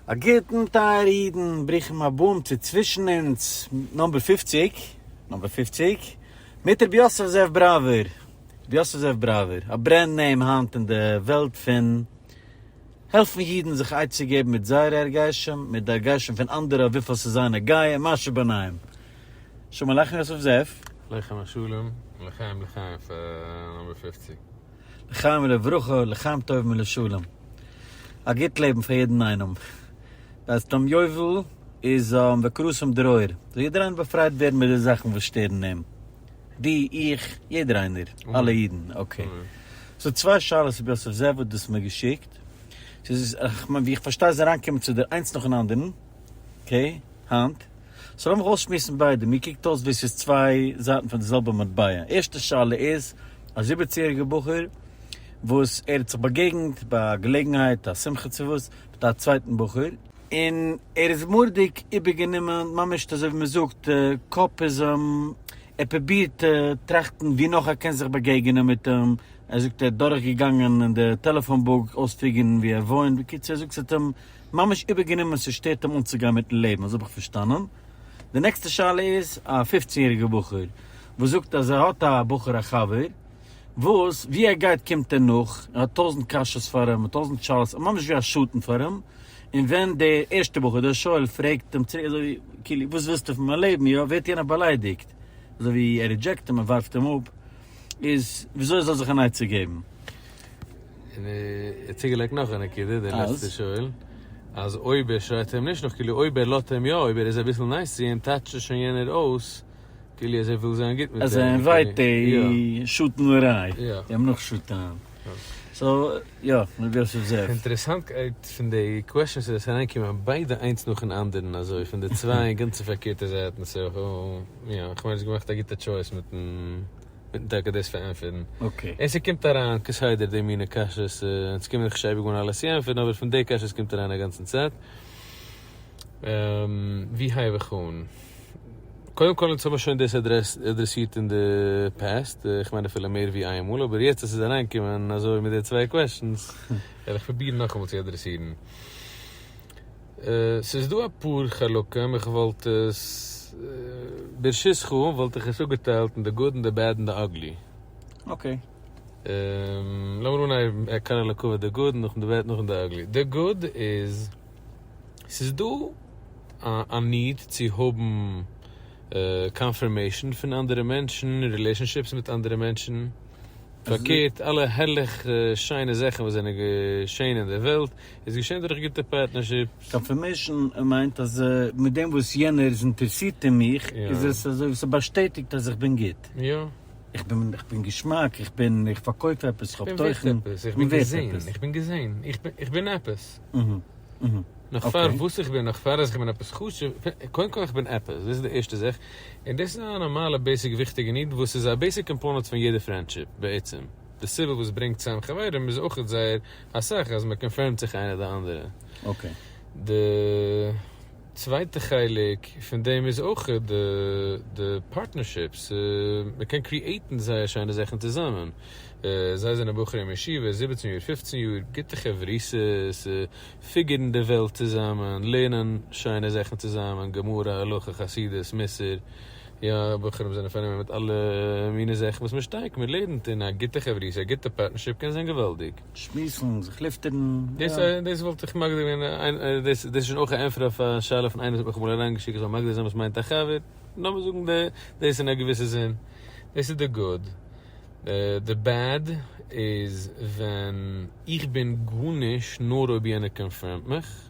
א גוטן טייערע אידן, ברוכים הבאים צו צווישן אונז נומבער פֿופֿציק, נומבער פֿופֿציק, מיט רבי יוסף זאב בראווער, רבי יוסף זאב בראווער, א ברענד נעים היינט אין די וועלט פון העלפן אידן זיך עצה געבן מיט זייערע הרגשים, מיט די הרגשים פון אנדערע אויף וויפיל ס'איז זיי נוגע און מה שביניהם. שלום עליכם יוסף זאב. עליכם השלום, לחיים לחיים פאר נומבער פֿופֿציק. לחיים ולברכה, לחיים טובים ולשלום. א גוט לעבן פאר יעדן איינעם. בעת יום יובל איז וכרסום דרור. זאל יעדער איינער באפרייט ווערן מיט די זאכן וואס שטערן אים. דו, איך, יעדער איינער. אלע אידן. אקעי. ס'איז צוויי שאלות רבי יוסף זאב האט דאס מיר געשיקט. ס'איז, כ'מיין ווי איך פארשטיי איז אריינגעקומען צו דיר איינס נאכן אנדערן. אקעי. היינט? סאו לאמיך אויסשמועסן ביידע, מיר קוקט אויס ווי ס'איז צוויי זייטן פון די זעלבע מטבע, ערשטע שאלה איז א זיבעציג יעריגע בחור וואס ער האט זיך באגעגנט ביי א געלעגנהייט א שמחה צו וואס מיט א צווייטן בחור, און ער איז מורא'דיג איבערגענומען ממש אזוי ווי מ'זאגט קאפ איז אים, ער פרובירט טראכטן ווי נאך ער קען זיך באגעגענען מיט אים, ער זאגט ער האט דורכגעגאנגען אין די טעלעפאן בוק אויספיגערן ווי ער וואוינט, בקיצור ער זאגט ס'האט אים. ממש איבערגענומען ס'שטערט אים אנצוגיין מיטן לעבן אזוי האב איך פארשטאנען, די נעקסטע שאלה איז א פופצן יעריגע בחור וואס זאגט אז ער האט א בחור א חבר וואס ווי ער גייט קומט ער נאך ער האט טויזנט קשיות פאר אים און טויזנט שאלות ער ממש ווי א שטן פאר אים און ווען דער ערשטע בחור דער שואל פרעגט אים צוריק אזוי כאילו וואס ווילסטו פון מיין לעבן יא ווערט יענער באליידיגט אזוי ווי ער רידזשעקט אים ער ווארפט אים אפ. איז וויאזוי ער זאל זיך אן עצה געבן. און ער האט צוגעלייגט נאך א נקודה, דער לעצטער שואל, אז אויב ער שרייט אים נישט נאך, כאילו אויב ער לאזט אים יא, אויב ער איז אביסל נייס צו אים, טייטשט עס שוין יענער אויס, כאילו אז ער וויל זיין גוט מיט אים. אז ער אינווייט די שטן לרעי, אים נאכשטען. סאו יא, מעיבי אויף ס'איז דער. אינטערעסאנטקייט פון די קוועשאנס איז אז ס'איז אריינגעקומען ביידע איינס נאכן אנדערן אזוי פון די צוויי גאנצע פארקערטע זייטן סאו יא כ'מיין האסט געמאכט א גוטע טשויס מיטן טאקע דאס פארענטפערן און ס'קומט אריין כסדר די מינע קשיות און ס'קומען זיך נישט אייביג אן אלעס צו ענטפערן אבער פון די קשיות קומט אריין אגאנצן צייט. ווי הייב איך אן? קודם כל אונז האבן שוין דאס אדרעסירט אין די פעסט, איך מיין אפילו מער ווי איין מאל, אבער יעצט אז ס'איז אריינגעקומען אזוי מיט די צוויי קוועשאנס, וועל איך פרובירן נאכאמאל צו אדרעסירן. ס'איז דא אפאר חלקים, איך וואלט עס, ברשותך, וואלט איך עס אפגעטיילט אין די גוד און די בעד און די אגלי. אקעי. לאמיר אנהייבן, קאנאלאקאוויע, די גוד, נאכדעם די בעד, נאכדעם די אגלי. די גוד איז. ס'איז דא א ניד צו האבן קאנפירמעישן פון אנדערע מענטשן, רילעישאנשיפס מיט אנדערע מענטשן, פארקערט אלע הערליך שיינע זאכן וואס זענען געשען אין דער וועלט איז געשען דורך גוטע פארטנערשיפס. קאנפירמעישן מיינט אז מיט דעם וואס יענער איז אינטערעסירט אין מיך איז עס אזוי ווי ס'באשטעטיגט אז איך בין גוט. איך בין איך בין געשמאק, איך בין איך פארקויף עפעס, איך האב תוכן, איך בין ווערט עפעס. איך בין געזען, איך בין געזען, איך בין עפעס. נאך פאר וואס איך בין, נאך פאר אז איך בין עפעס חשוב, קודם כל איך בין עפעס, דאס איז די ערשטע זאך, און דאס איז א נארמאלע בעיסיק וויכטיגע ניד וואס איז א בעיסיק קאמפאונעט פון יעדע פרענדשיפ בעצם, די סיבה וואס ברענגט צוזאם חברים איז אויך זייער אסאך אז מען קאנפירמט זיך איינער די אנדערע, די. צווייטע חלק פון דעם איז אויך די פארטנערשיפס, מען קען קריעטן זייער שיינע זאכן צוזאמען, זיי זענען בחורי ישיבה, זיבעצן יאר, פופצן יאר, גוטע חברותות, פיגערן די וועלט צוזאמען, לערנען שיינע זאכן צוזאמען, גמרא, הלכה, חסידות, מוסר, יא, בחורים זענען פארנומען מיט אלע מיני זאכן וואס מען שטארק, מען לערנט, און א גוטע חברותא, א גוטע פארטנערשיפ קען זיין געוואלדיג. שמועסן, זיך לופטערן, יא. דאס וואלט איך מגדיר ווען דאס איז שוין אויך א ענפער אויף א שאלה פון איינער האט מיך אמאל אריין געשיקט איך זאל מגדיר זיין וואס מיינט א חבר, לאמיר זאגן דאס אין א געוויסע זין, דאס איז די גוד, די בעד איז ווען איך בין גארנישט נאר אויב יענער קאנפירמט מיך,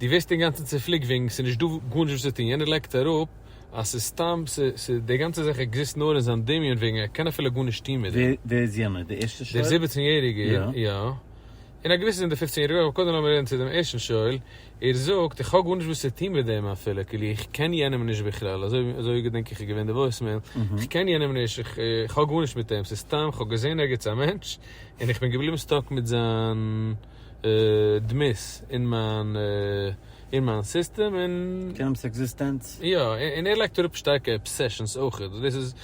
דו ווערסט אינגאנצן צופליקט וועגן ס'איז נישט דא גארנישט וואס צו טון, יענער לייגט אראפ אז ס'איז סתם, די גאנצע זאך עקזיסט נאר אין זיין דמיון וועגן ער קען אפילו גארנישט טון מיט דעם. ווער איז יענער? די ערשטע שואל? דער זיבעצן יעריגער, יא. אין א געוויסע זין דער פופצן יעריגער אויך, אבער קודם לאמיר רעדן צו דעם ערשטן שואל, ער זאגט איך האב גארנישט וואס צו טון מיט דעם אפילו, כאילו איך קען יענעם נישט בכלל, אזוי געדענק איך איז געווען די וואויסמעיל, איך קען יענעם נישט, איך האב גארנישט מיט אים, ס'איז סתם כ'האב געזען ערגעץ א מענטש, און איך בין געבליבן סטאק מיט זיין. דמות אין מיין אין מיין סיסטעם און. קענעם'ס עקזיסטענץ. יא, און ער לייגט אראפ שטארקע אבסעשאנס אויכעט, דאס איז,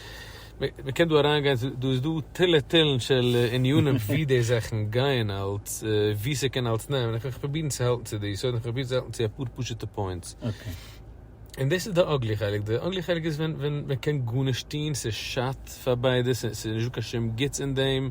מ'קען דא אריינגיין, דא איז דא תילי תילים של ענינים ווי די זאכן גייען אלץ, ווי ס'קען אלץ נעמען, איך וועל זיך פרובירן צו האלטן צו די, סאו איך וועל פרובירן צו האלטן צו אפאר פשוט'ע פוינטס. אקעי. און דאס איז די אגלי חלק, די אגלי חלק איז ווען ווען מ'קען גארנישט טון, ס'שאדט פאר ביידע, ס'איז נישטא קיין שום גוטס אין דעם.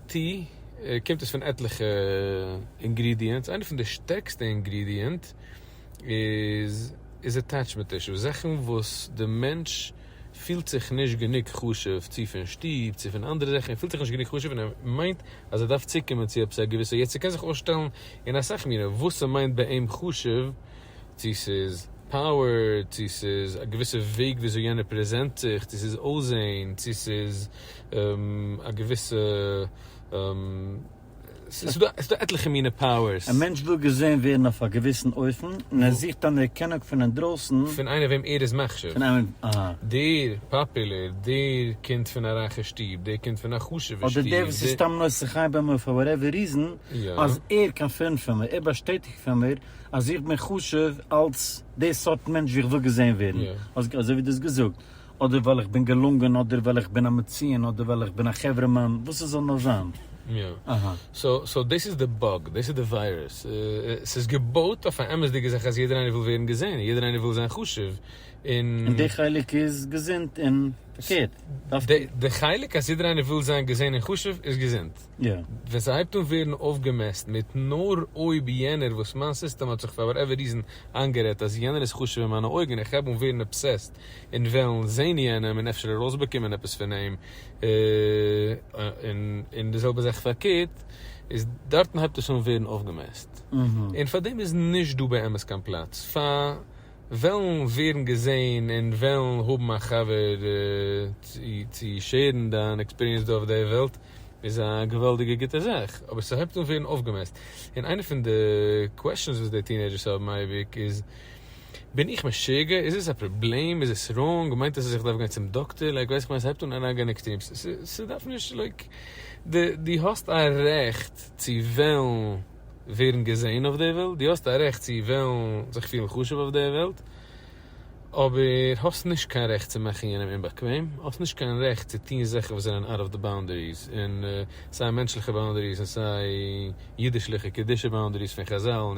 טי קומט עס פון עטליכע אינגרידיענטס, איינע פון די שטערקסטע אינגרידיענט איז איז עטעטשמענט אישוס, זאכן וואס די מענטש פילט זיך נישט גענוג חשוב צו פון שטוב צו פון אנדערע זאכן, ער פילט זיך נישט גענוג חשוב און ער מיינט אז ער דארף צוקומען צו עפעס א געוויסע, יעצט ס'קען זיך אויסשטעלן אין אסאך מינים וואס ס'מיינט ביי אים חשוב, צו ס'איז פאוער, צו ס'איז א געוויסע וועג וויאזוי יענער פרעזענט זיך, צו ס'איז אויסזען, צו ס'איז א געוויסע, ס'איז דא עטליכע מינע פאוערס. א מענטש וויל געזען ווערן אויף א געוויסן אופן, און ער זוכט אנערקענונג פון אינדרויסן. פון איינער וועם ער איז מחשיב. פון איינעם, אהא. דער פאפולער, דער קומט פון א רייכע שטוב, דער קומט פון א חשוב'ע שטוב, דער. אדער דער וואס איז סתם נושא חן ביים מויל פאר וואטעווער ריזען, אז ער קאנפירמד פון מיר, ער באשטעטיגט פון מיר, אז איך בין חשוב אלס די סארט מענטש ווי איך וויל געזען ווערן. אזוי ווי דו האסט געזאגט. אדער ווייל איך בין געלונגען אדער ווייל איך בין א מציון אדער ווייל איך בין א חברה מאן וואס עס זאל נאר זיין. יא. אהא. סאו דאס איז די באג, דאס איז די וויירוס. עס איז געבויט אויף א אמת'דיגע זאך אז יעדער איינער וויל ווערן געזען, יעדער איינער וויל זיין חשוב, און. און די חלק איז געזונט און פארקערט דארף מען. די חלק אז יעדער איינער וויל זיין געזען און חשוב איז געזונט. יא. ווען ס'הייבט אן ווערן אויפגעמעסט מיט נאר אויב יענער וואס מיין סיסטעם האט זיך פאר וואטעווער ריזען איינגערעדט אז יענער איז חשוב אין מיינע אויגן און איך הייב אן ווערן אבסעסט און וועלן זען יענעם און אפשר ארויסבאקומען עפעס פון אים, און די זעלבע זאך פארקערט, איז דארטן הייבט עס אן ווערן אויפגעמעסט, און פאר דעם איז נישט דא באמת קיין פלאץ פאר וועלן ווערן געזען און וועלן האבן א חבר צו שעירן דיין עקספיריענס דא אויף די וועלט, איז א געוואלדיגע גוטע זאך, אבער ס'הייבט אן ווערן אויפגעמעסט, און איינע פון די קוועשאנס וואס די טינעידזשערס האבן אייביג איז. בין איך משוגע? איז עס א פראבלעם? איז עס ראנג? מיינט עס אז איך דארף גיין צום דאקטער? לייק ווייס איך מיין עס הייבט אן אריינגיין אין עקטרימס. ס'דארף נישט לייק די די האסט א רעכט צו וועלן ווערן געזעהן אויף די וועלט, די האסט א רעכט צו וועלן זיך פילן חשוב אויף די וועלט, אבער האסט נישט קיין רעכט צו מאכן יענעם אומבאקוועם, האסט נישט קיין רעכט צו טון זאכן וואס זענען אוט אוו די באונדעריס, און סיי מענטשליכע באונדעריס און סיי אידישליכע קדושה באונדעריס פון חזל, און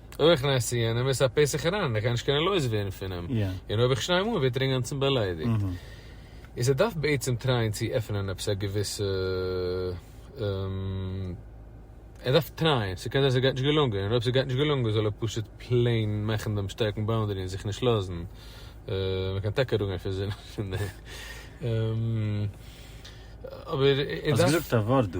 אויך נעשי יענעם איז א פסח אריין ער קען נישט קענען לויז ווערן פון אים און אויב איך שניי אים אן ווערט ער אינגאנצן באליידיגט איז ער דארף בעצם טרייען צו עפענען עפעס א געוויסע ער דארף טרייען ס'קען זיין ס'גייט נישט געלונגען און אויב ס'גייט נישט געלונגען זאל ער פשוט פלעין מאכן דעם שטארקן באונדערי און זיך נישט לאזן מ'קען טאקע דא גיין פון זינען פון דעם אבער ער דארף. האסט געזאגט א ווארט דא.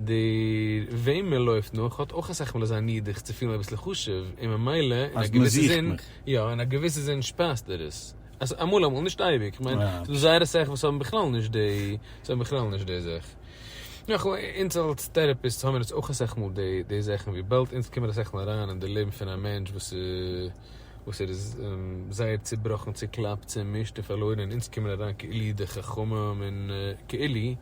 דער וועם מען לויפט נאך האט אויך אסאך מאל אזא ניד זיך צו פילן אביסל חשוב, און ממילא אין א געוויסע זין, יא, אין א געוויסע זין שפייזט ער עס. אמאל אמאל, נישט אייביג, איך מיין ס'דא זייער אסאך וואס האבן בכלל נישט די, זיי האבן בכלל נישט די זאך. נאך אמאל, אונז אלס טעראפיסטס האבן מיר עס אויך אסאך מאל די די זאכן, וויבאלד אונז קומען אסאך מאל אריין אין די לעבן פון א מענטש וואס וואס ער איז זייער צובראכן, צוקלאפט, צומישט און פארלוירן, און אונז קומען אריין כאילו ידי חכמים און כאילו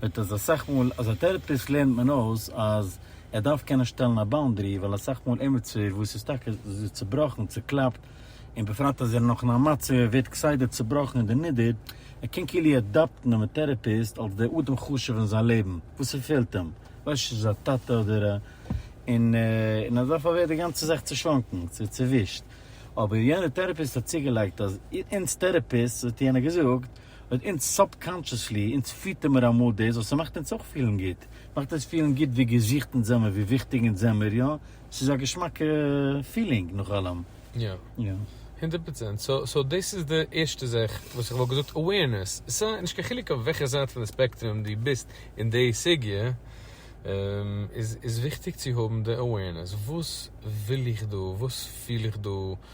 וועט אז אסאך מאל אז א טערעפיסט לערנט מען אויס אז ער דארף קענען שטעלן א באונדערי ווייל אסאך מאל אימעצער וואס איז טאקע צובראכן צוקלאפט און בפרט אז ער איז נאך אין א מצב ער ווערט כסדר צובראכן און דערנידערט ער קען כאילו עדאפטן דעם טערעפיסט אלס דער אדם חשוב אין זיין לעבן וואס ס'פעלט אים ווייסט נישט איז א טאטע אדער א און און אז דערפאר ווערט די גאנצע זאך צושלונגן צו צעווישט אבער יענער טערעפיסט האט צוגעלייגט אז אונז טערעפיסטס האט יענער געזאגט און אונז סאבקאנטשעסלי, אונז פיטער מיר אמאל דאס וואס ס'מאכט אונז אויך פילן גוט. מאכט אונז פילן גוט ווי געזוכט אונז זעמיר, ווי וויכטיג אונז זעמיר, יא? ס'איז א געשמאקע פילינג נאך אלעם. יא. יא. הונדערט פראצענט. סא, סא דאס איז די ערשטע זאך וואס איך וואלט געזאגט, אווערנעס. סא, נישט קיין חילוק אויף וועלכע זייט פון די ספעקטרום דו ביסט אין די סוגיא, איז, איז וויכטיג צו האבן די אווערנעס. וואס וויל איך דא? וואס פיל איך דא?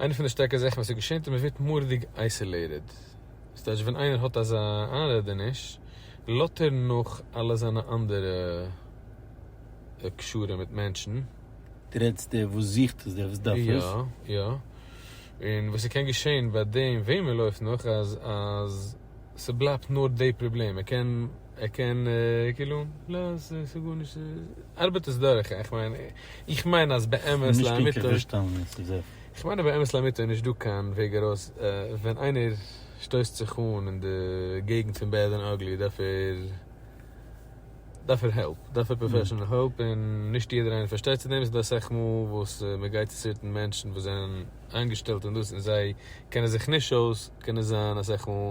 איינע פון די שטערקע זאכן וואס עס געשענט איז מען ווערט מוראדיג אייסעלעיטעד, דאס טייטש ווען איינער האט אזא איינרעדעניש לאט ער נאך אלע זיינע אנדערע קשרים מיט מענטשן. די רעדסט דער וואס זוכט עס דער וואס דארף עס? יא יא, און וואס עס קען געשען ביי דעם וועם מען לויפט נאך אז אז ס'בלייבט נאר די פראבלעם, ער קען ער קען כאילו לא ס'גארנישט ארבעט עס דורך איך מיין איך מיין אז באמת לאמיתו איך מיין אז באמת לאמיתו איז נישט דא קיין וועג ארויס ווען איינער שטויסט זיך אן אין די געגנט פון בעד און אגלי דארף ער דארף ער העלפ דארף ער פראפעשענעל העלפ און נישט יעדער איינער פארשטייט צו דעם ס'דא אסאך מאל וואס מ'גייט צו צוויטן מענטשן וואס זענען איינגעשטעלט אין דאס און זיי קענען זיך נישט אויס קען עס זיין אסאך מאל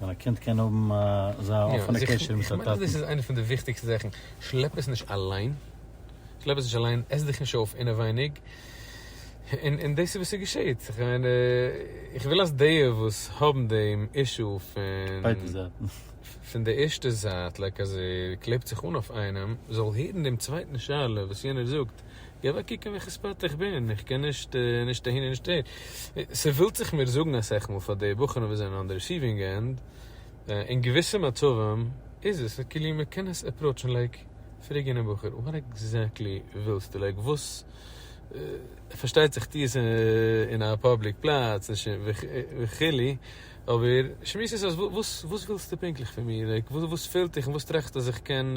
ווען א קינד קען האבן אזא אפענע קשר מיט זיין טאטן. כ'מיין אז דאס איז איינע פון די וויכטיגסטע זאכן, שלעפ עס נישט אליין, שלעפ עס נישט אליין, עס דיך נישט אויף אינעווייניג, און דאס איז וואס ס'געשעהט, כ'מיין, איך וויל אז די וואס האבן דעם אישו פון, ביידע זייטן, פון די ערשטע זייט, לייק אז ער קלעבט זיך אן אויף איינעם, זאל הערן דעם צווייטן שאלה וואס יענער זאגט, גיי אוועק קוקן ווי חוצפה'דיג איך בין, איך קען נישט נישט אהין און נישט אהין, ס'ווילט זיך מיר זאגן אסאך מאל פאר די בחורים וואס זענען אן די ריסיווינג ענד, אין געוויסע מצבים איז עס כאילו מען קען עס עפראוטשן לייק פרעג יענעם בחור וואט עקזעקטלי ווילסטו לייק וואס, פארשטייט זיך טו עס אין א פאבליק פלאץ וכו', אבער שמועס עס אויס וואס ווילסטו פונקטליך פון מיר, לייק וואס פעלט דיך און וואס טראכסטו אז איך קען.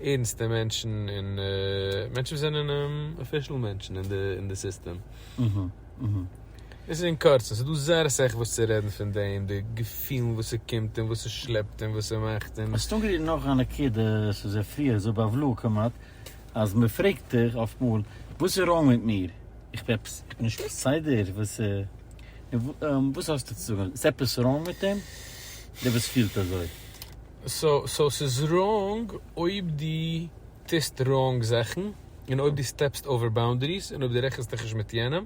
ערנסטע מענטשן און מענטשן וואס זענען אפישעל מענטשן אין די סיסטעם. דאס איז אין קורצן, ס'איז דא זייער אסאך וואס צו רעדן פון דעם, די געפילן וואס ס'קומט און וואס ס'שלעפט און וואס ס'מאכט און. האסט אנגערירט נאך א נקודה, ס'איז א פריער זאל בעוולה'ל כמעט, אז מ'פרעגט דיך אפט מאל, וואס איז ראנג מיט מיר? איך בין עפעס, איך בין נישט בסדר? וואס איז, וואס האסטו צו זאגן? איז עפעס ראנג מיט אים? דער וואס פילט אזוי? סאו ס'איז ראנג אויב דו טוסט ראנג זאכן, און אויב דו סטעפסט אווער באונדעריס, און אויב דו רעכנסט דיך נישט מיט יענעם,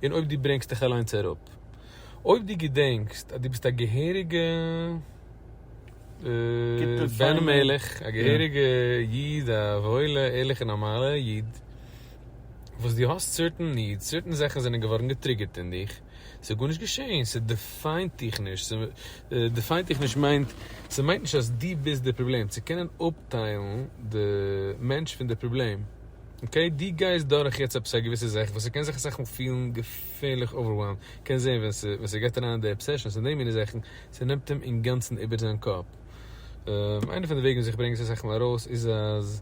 און אויב דו ברענגסט דיך אליינס אראפ. אויב דו געדענקסט אז דו ביסט א געהעריגע בן המלך, א געהעריגע איד, א וואוילע ערליכע נארמאלע איד, וואס דו האסט סערטען נידס, סערטען זאכן זענען געווארן געטריגערט אין דיך, ס'איז גארנישט געשעהן, ס'דיפיינט דיך נישט, דיפיינט דיך נישט מיינט, ס'מיינט נישט אז דו ביסט די פראבלעם, צו קענען אפטיילן די מענטש פון די פראבלעם, אקעי? דו גייסט דורך יעצט עפעס א געוויסע זאך וואס ס'קען זיך אסאך מאל פילן געפערליך אווערוועלמד, קענסט זעהן ווען ס'גייט אריין אין די אבסעשאנס און די מיני זאכן, ס'נעמט אים אינגאנצן איבער זיין קאפ, איינע פון די וועגן וואס איך ברענג עס אסאך מאל ארויס איז אז.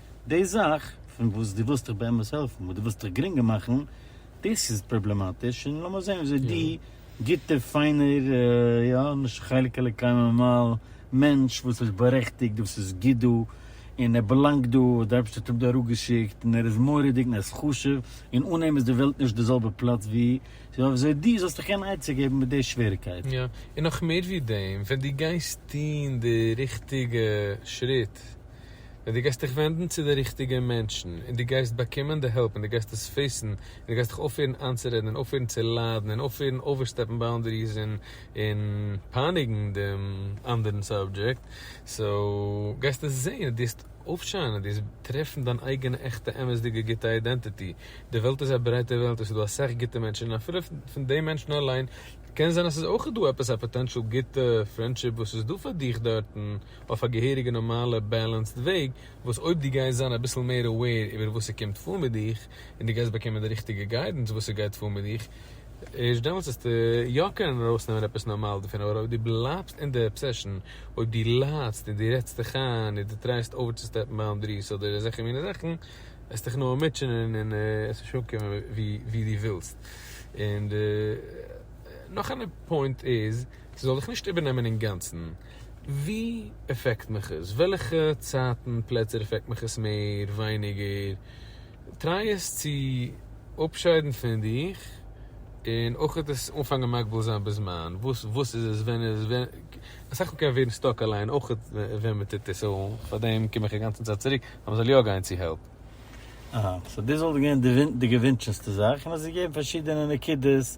די זאך פון וואס דו ווילסט דיך באמת העלפן, וואס דו ווילסט דיך גרינגער מאכן, דאס איז פראבלעמאטיש, און לאמיר זען וויאזוי דו, גוטער פיינער, יא, נישט חלק אלוקים ממעל, מענטש וואס איז בארעכטיגט, וואס איז גוט דא, און ער באלאנגט דא, וואס דער אייבערשטער האט אים דא אראפגעשיקט, און ער איז מורא'דיג און ער איז חשוב, און אן אים איז די וועלט נישט די זעלבע פלאץ ווי, יא, וויאזוי דו זאלסט דיך קענען עצה געבן מיט די שוועריגקייט. יא, און נאך מער ווי דעם, ווען דו גייסט טון די ריכטיגע שריט, ווען דו גייסט דיך ווענדן צו די ריכטיגע מענטשן און דו גייסט באקומען די העלפ און דו גייסט עס פעיסן און דו גייסט דיך אויפהערן איינצורעדן און אויפהערן צו ליידן און אויפהערן אווערסטעפן באונדעריס און און פייניגן דעם אנדערן סאבדזשעקט סאו גייסטו זען און דו וועסט אויפשיינען דו וועסט טרעפן דיין אייגענע עכטע אמת'דיגע גוטע איידענטיטי. די וועלט איז א ברייטע וועלט עס איז דא אסאך גוטע מענטשן און אפילו פון די מענטשן אליין קען זיין אז עס איז אויך דא עפעס א פאטענטשעל גוטע פרענדשיפ וואס איז דא פאר דיך דארטן. אויף א געהעריגע נארמאלע בעלענסד וועג, וואס אויב דו גייסט זיין אביסל מער אוועיר איבער וואס ס'קומט פאר מיט דיך, און דו גייסט באקומען די ריכטיגע גיידענס וואס ס'גייט פאר מיט דיך, ערשט דעמאלטס וועסטו יא קענען ארויסנעמען עפעס נארמאל דערפון, אבער אויב דו בלייבסט אין די אבסעשאן, אויב דו ליידסט און דו רעדסט דיך איין און דו טרייסט אווערצוסטעפן באונדעריס אדער אזעלכע מיני זאכן, וועסטוך נאר מוטשענען און עס נישט אנקומען ווי דו ווילסט. און די נאך א פוינט איז. ס'זאל דיך נישט איבערנעמען אינגאנצן. וואו עפעקט מיך עס? וועלכע צייטן, פלעצער עפעקט מיך עס מער, ווייניגער? טריי עס צו אפשיידן פון דיך, און אויך עס אנפאנגען מגביל זיין בזמן, וואס איז עס, ווען איז עס, אסאך מאל קען מען ווערן סטאק אליין אויך ווען מען טוט עס, סאו פארדעם קום איך אינגאנצן צייט צוריק אז מען זאל יא גיין צו העלפ. אהא, סאו דאס וואלט געווען די געווינטשענסטע זאך, און עס איז געגעבן פארשידענע נקודות